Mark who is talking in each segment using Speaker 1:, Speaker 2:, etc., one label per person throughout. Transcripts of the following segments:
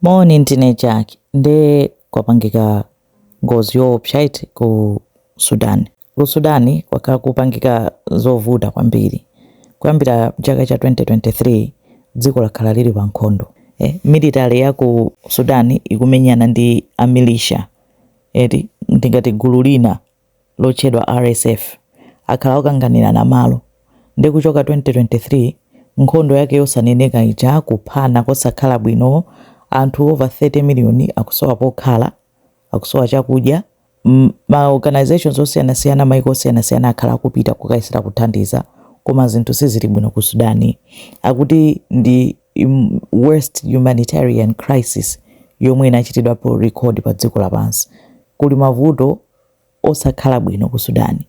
Speaker 1: Moni ndine Jack nde kwapangika ngozi yoopsa eti ku Sudan. Ku Sudan kwakhala kukupangika zovuta kwambiri kuyambira chaka cha 2023 dziko lakhala lili pa nkhondo eh, military ya ku Sudan ikumenyana ndi a militia eti ndingati gulu lina lotchedwa RSF akhala akukanganirana malo nde kuchoka 2023 nkhondo yake yosaneneka ija kuphana kosakhala bwino anthu over 30 million akusowa pokhala akusowa chakudya ma organisations osiyanasiyana maiko osiyanasiyana akhala akupita kukayesera kuthandiza koma zinthu sizili bwino ku Sudan akuti ndi worst humanitarian crisis yomwe inachitidwapo record pa dziko lapansi kuli mavuto osakhala bwino ku Sudan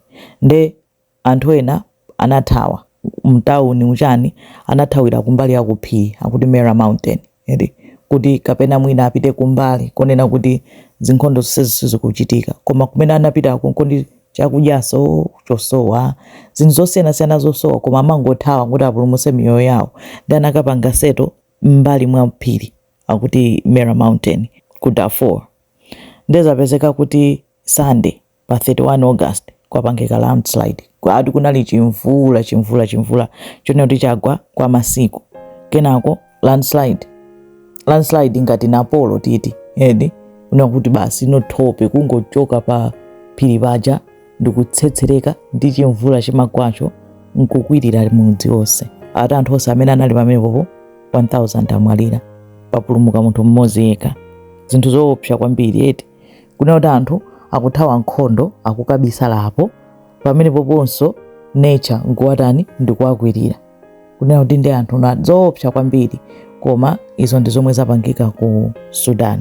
Speaker 1: nde anthu ena anathawa mtauni uchani anathawira kumbali ya kuphiri akuti Marra mountain eti kuti kapena mwina apite kumbali konena kuti zinkhondo zonsezi sizikuchitika koma kumene anapita konko ndi chakudyaso chosowa zinthu zosiyanasiyana zosowa koma amangothawa kuti apulumuse miyoyo yawo nde anakapanga seto m'mbali mwa phiri akuti Marra mountain ku Darfur. nde zapezeka kuti sunday pa 31 august kwapangika landslide akuti kunali chimvula chimvula chimvula chonena kuti chagwa kwa masiku kenako landslide landslide ngati napolo titi eti kunena kuti basi thope kungochoka pa phiri paja ndikutsetsereka ndi chimvula chimagwacho nkukwirira mudzi wonse ati anthu onse amene anali pamenepopo 1000 amwalira papulumuka munthu mmodzi yekha zinthu zoopsa kwambiri eti kunena kuti anthu akuthawa nkhondo akukabisala apo pamenepoponso nature nkuwatani ndikuwakwirira kunena kuti ndi zinthu zoopsa kwambiri koma izo ndi zomwe zapangika ku sudan